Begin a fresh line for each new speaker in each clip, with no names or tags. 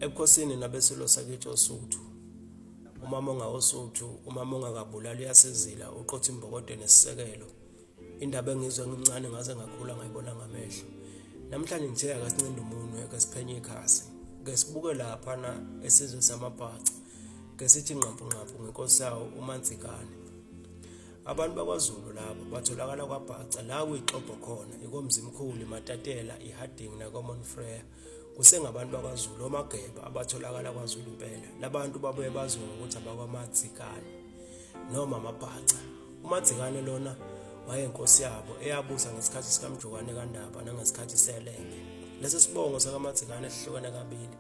ebukhosini nabesilo sakithi osuthu umama ongawosuthu umama ongakabulali uyasizila uqotha imbokode nesisekelo indaba engizwe ngimncane ngaze ngakhula ngayibona ngamehlo namhlanje ngithe akasincinde umunwe ke siphenye ikhasi ke sibuke laphana esizwe samabhaca ke sithi nqampunqampu ngenkosi yawo umanzikane Abantu bakwaZulu labo batholakala kwaBhaca la kuyixobho khona ikomzimkhulu iMatatela iHarding nakoMont Frere kusengabantu bakwaZulu omageba abatholakala kwaZulu impela labantu babuye baziwe ngokuthi abakwamadzikane noma amabhaca umadzikane lona wayenkosi yabo eyabusa ngesikhathi sikamjokwane kandaba nangesikhathi selenge lesi sibongo sakamadzikane sihlukene kabili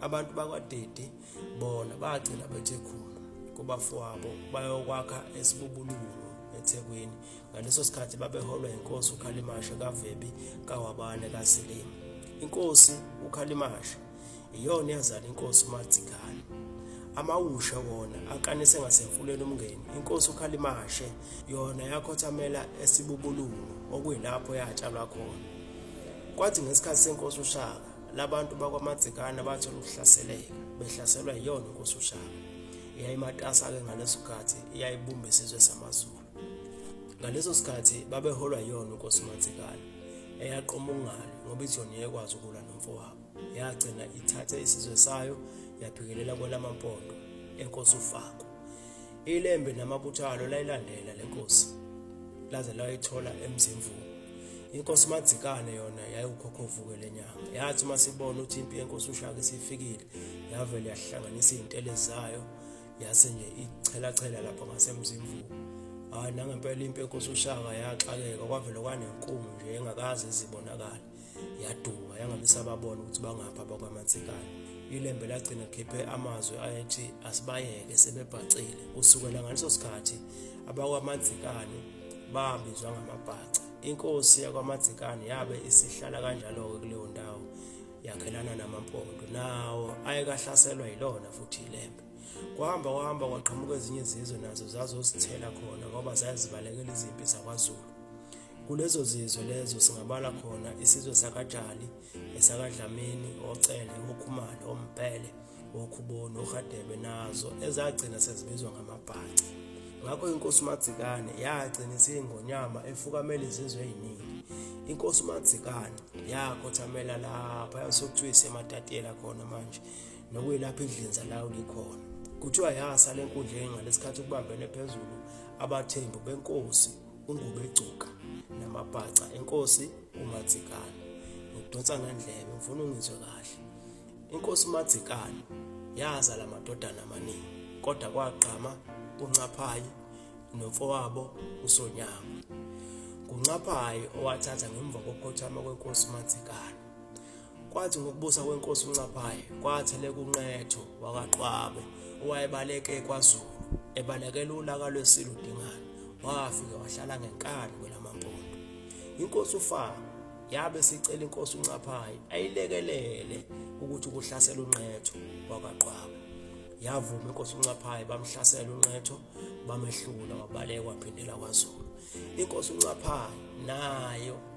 abantu bakwadede bona bagcina bethe khulu kubafowabo bayokwakha esibubululu ethekwini ngaleso sikhathi babeholwa yinkosi ukhalimasha kavebi kawabane kasilima inkosi ukhalimasha iyona yazala inkosi uMadzikane amawusha wona akanise ngasemfuleni umngeni inkosi ukhalimashe yona yakhothamela esibubulungu okuyilapho yatshalwa khona kwathi ngesikhathi senkosi ushaka labantu bakwaMadzikane bathola ukuhlaseleka behlaselwa yiyona inkosi uShaka eyayimatasa-ke ngaleso sikhathi eyayibumba isizwe samaZulu ngaleso sikhathi babeholwa yiyona inkosi uMadzikane eyaqoma ukungalo ngoba ijoni yayikwazi ukulwa nomfowabo yagcina ithathe isizwe sayo yaphikelela kwelamampondo enkosi ufako Ilembe namabutho alo layilandela le nkosi laze layithola emzimvubu. Inkosi Madzikane yona yayiwukhokhovuke lenyanga. Yathi uma sibona ukuthi impi yenkosi uShaka isifikile, yavele yahlanganisa izintele zayo yase nje ichela chela lapha ngasemzimvubu. Hayi nangempela impi yenkosi uShaka yaxakeka kwavele kwanenkumo nje engakaze izibonakala. yaduka yangamisa babona ukuthi bangapha bakwamathikana ilembe lagcina khiphe amazwi ayethi asibayeke sebebhacile kusukela ngaleso sikhathi abakwamadzikane babizwa ngamabhaca inkosi yakwamadzikane yabe isihlala kanjalo-ke kuleyo ndawo yakhelana namampondo nawo ayekahlaselwa yilona futhi ilembe kwahamba kwahamba kwaqhamuka ezinye izizwe nazo zazosithela khona ngoba zazibalekela izimpi zakwazulu Kulezo zizwe lezo singabala khona isizwe sakaJali, esakaDlamini, oCele, oKhumalo, oMbhele, oKhuboni, oRhadebe nazo ezagcina sezibizwa ngamaBhaca. Ngakho inkosi uMadzikane yagcina isiyingonyama efukamela izizwe eziningi. Inkosi uMadzikane yakhothamela lapha yasokuthiwa isematatiyela khona manje nokuyilapho idlinza lawo likhona. Kuthiwa yasa le nkundla enga lesikhathi kubambene phezulu abathembu benkosi uNgubegcuka namabhaca enkosi uMadzikane ngidonsa ngandlebe ngifuna ungizwe kahle inkosi uMadzikane yazala amadodana amaningi kodwa kwagqama uNcaphayi nomfowabo uSonyama kuNcaphayi owathatha ngemva kokukhothama kwenkosi uMadzikane Kwathi ngokubusa kwenkosi uNcapayi kwatheleka unqetho wakaqwabe owayebaleke kwaZulu ebalekela ulaka lwesilo Dingane wafike wahlala ngenkani kwelamampondo inkosi uFaka yabe sicela inkosi uNcapayi ayilekelele ukuthi kuhlasela unqetho wakaqwabe yavuma inkosi uNcapayi bamhlasela unqetho bamehlula wabaleka waphindela kwaZulu inkosi uNcapayi nayo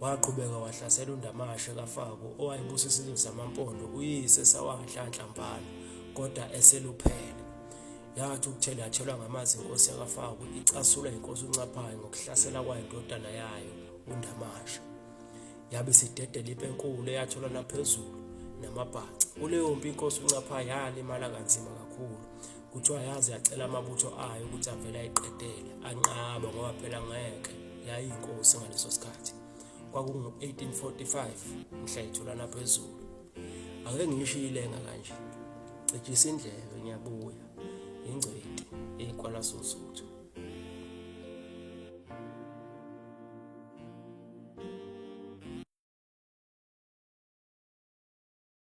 Waqhubeka wahlasela uNdamashe kaFako owayebusa isizwe samaMpondo uyise sawaNhlanhla Mbhalo kodwa eseluphele. Yathi ukuthela yatshelwa ngamazi inkosi yakaFako icasulwa inkosi uNcaphayi ngokuhlasela kwayo indodana yayo uNdamashe. Yabe sidedela impi enkulu eyatholwa naphezulu namabhaca. Kuleyo mpi inkosi uNcaphayi yalimala kanzima kakhulu Kuthiwa yaze yacela amabutho ayo ukuthi avele ayiqedele anqaba ngoba phela ngeke yayinkosi ngaleso sikhathi kwakungu-1845 mhla ithulana phezulu ake ngisho ilenga kanje cijisa indlebe ngiyabuya ingcweti eyikwalasozuthi